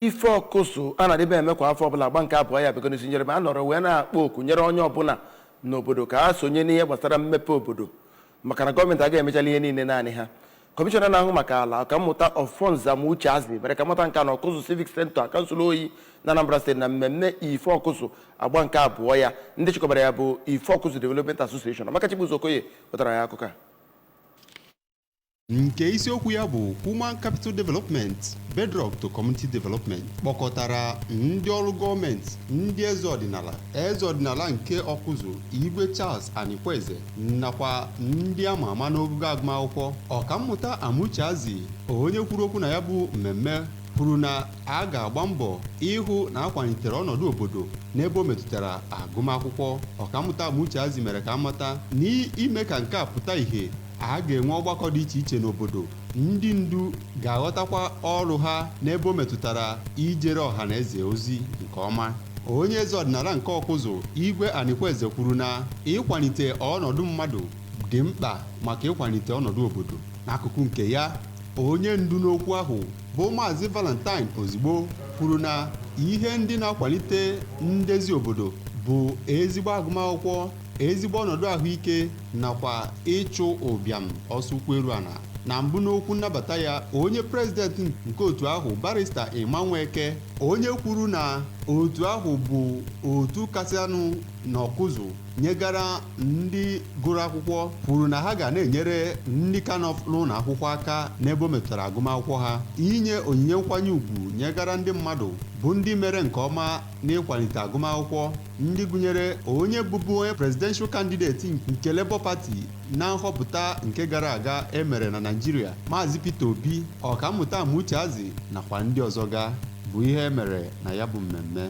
ife ọkụzụ a na-adịbe eme kwa afọ ọbụla agba nke abụọ ya bịago n'isi njedebe a nọrọ wee na-akpọ oku nyere onye ọbụla n'obodo ka ha sonye n'ihe gbasara mmepe obodo maka na gọọmenti agaghị emechala ihe niile naanị ha kọmishọna na-ahụ maka ala ọkammụta Offornze Amucheazi mere ka amata nke a na ọkụzụ civic center kansụl oyi na Anambra steeti na mmemme ife ọkụzụ agba nke abụọ ya ndị chịkọbara ya bụ ife ọkụzụ development association Amaka Chibuzo Okoye wetara ya akụkọ a nke isiokwu ya bụ Human Capital Development Bedrock to Community Development kpọkọtara ndị ọrụ gọọmenti ndị eze ọdịnala eze ọdịnala nke ọkụzụ igwe Charles Anikweze nakwa ndị ama ama n'ogogo agụmakwụkwọ ọkammụta Amucheazi onye kwuru okwu na ya bụ mmemme kwuru na a ga-agba mbọ ịhụ na akwalitere ọnọdụ obodo n'ebe o metụtara agụmakwụkwọ ọkammụta Amucheazi mere ka amata n'ime ka nke a pụta ìhè a ga-enwe ọgbakọ dị iche iche n'obodo ndị ndu ga-aghọtakwa ọrụ ha n'ebe o metụtara ijere ọha na eze ozi nke ọma onye eze ọdịnala nke ọkụzụ igwe anikweze kwuru na ịkwalite ọnọdụ mmadụ dị mkpa maka ịkwalite ọnọdụ obodo n'akụkụ nke ya onye ndu n'okwu ahụ bụ maazị valentine ozigbo kwuru na ihe ndị na-akwalite ndezi obodo bụ ezigbo agụmakwụkwọ ezigbo ọnọdụ ahụike nakwa ịchụ ụbịam ọsọ ụkwụ eru ana na mbụ n'okwu nnabata ya onye prezidenti nke otu ahụ barista Emma Nweke onye kwuru na otu ahụ bụ otu kasịanụ n'ọkụzụ nyegara ndị gụrụ akwụkwọ kwuru na ha ga na-enyere ndị ka nọ n'ụlọ akwụkwọ aka n'ebe o metụtara agụmakwụkwọ ha inye onyinye nkwanye ugwu nyegara ndị mmadụ bụ ndị mere nke ọma n'ịkwalite agụmakwụkwọ ndị gụnyere onye bụbu onye presidential candidate nke Labour Party na nhọpụta nke gara aga e mere na Naịjirịa Maazị Peter Obi ọkammụta Amucheazi nakwa ndị ọzọ ga bụ ihe e mere na ya bụ mmemme